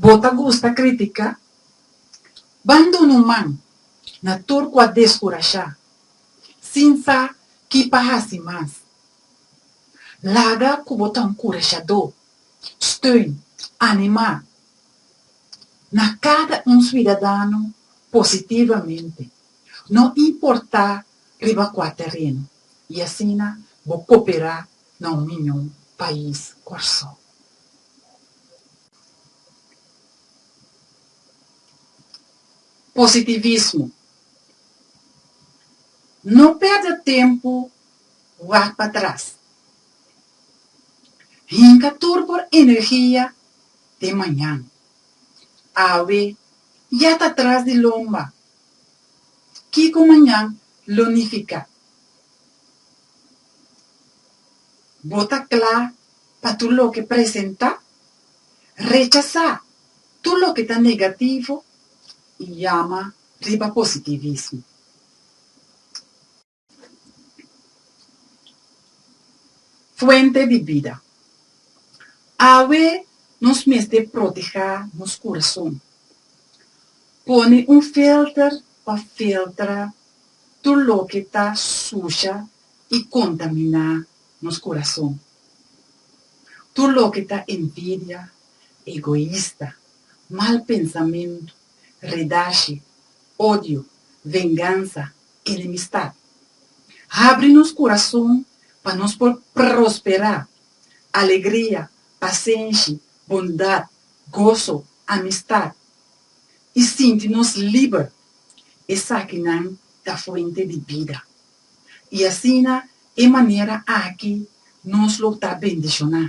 Bo ta gusta kritika? Ban duna un man na tur ku a deskurashá sin sa ki pa hasi mas. Laga ku bo ta un kurashadó, steun, animá na kada un suidadano positivamente, no importá riba kua tereno, i asina bo koperá na un miñó pais Kòrsou. Positivismo. No perde tempu wak pa tras. Hinka tur por energia den mañan. Awe ya ta tras di lomba. Kiko mañan lo nifiká? Bo ta kla Pa tur loke presentá, rechasá tur loke ta negativo i yama riba positivismo. Fuente di bida. Awe nos mester protehá nos kurason. Pone un filter pa filtra tur loke ta susha i kontaminá nos kurason. Tur loke ta envidia, egoista, mal pensamentu, redashi, odio, vengansa, enemistat. Habri nos kurason pa nos por prosperá, alegria, pasenshi, bondat, goso, amistat, i sinti nos liber, esakinan ta fuente di bida. i asina e manera aki nos lo ta bendishoná,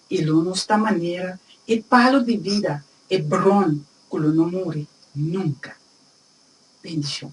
i lo nos ta manera e palu di bida, e bron ku lo no muri nunka. Bendishon.